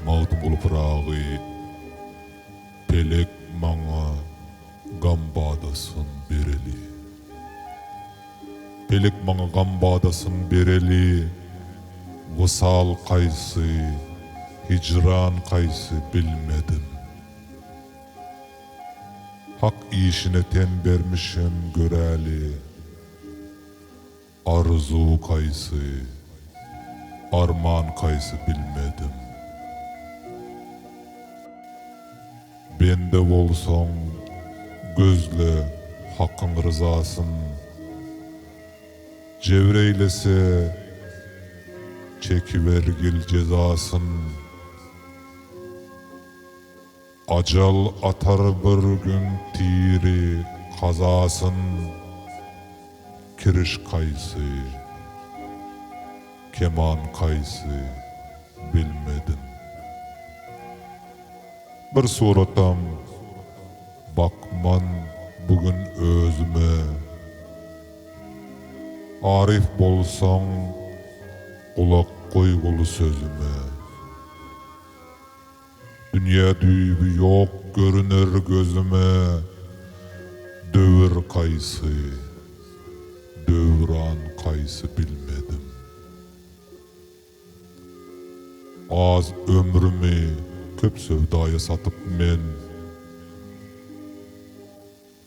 Magtymguly Pyragy, Pelek maňa gam badasyn bereli. Pelek maňa gam badasyn bereli, Wysal kaýsy, hijran kaýsy bilmedim. Hak işine ten bermişem göräli. Arzuw kaýsy, arman kaýsy bilmedim. Bende bolsaň, gözle, Hakyň ryzasyn. Jebir eýlese, çekibergil jezasyn. Ajal atar bir gün tiri kazasyn Kiriş kaýsy, keman kaýsy bilmedim. Bir suratam bakman bu gün özüme Arif bolsaň gulak goýguly sözüme. Dünýä düýbi ýok görüner gözüme Döwür kaýsy, döwran kaýsy bilmedim. Az ömrümi köp söwdaýa satyp men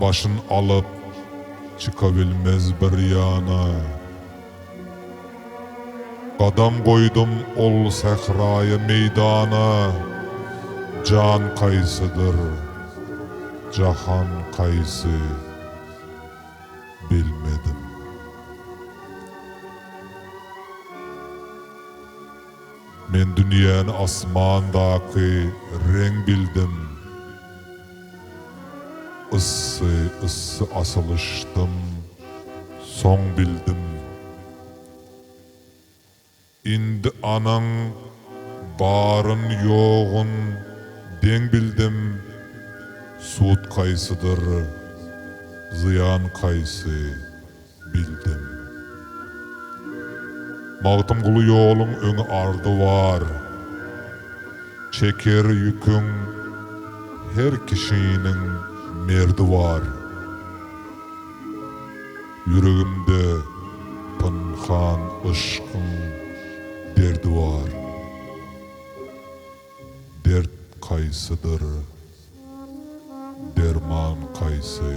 Başyn alyp, çykabilmez bir ýana. Gadam goýdum ol sähraýa meýdana, Jan kaýsydyr, jahan kaýsy, bilmedim. Men dünýäni asmandaky reň bildim. Yssy yssy asylyşdym soň bildim Indi anaň baryn ýogyn deň bildim Sud kaýsydyr zyýan kaýsy bildim. Magtymguly ýoluň öňi ardy bar, Çeker ýüküň her kişiniň merdi bar. Ýüregimde pynhan yşkyň derdi bar, Dert kaýsydyr, derman kaýsy?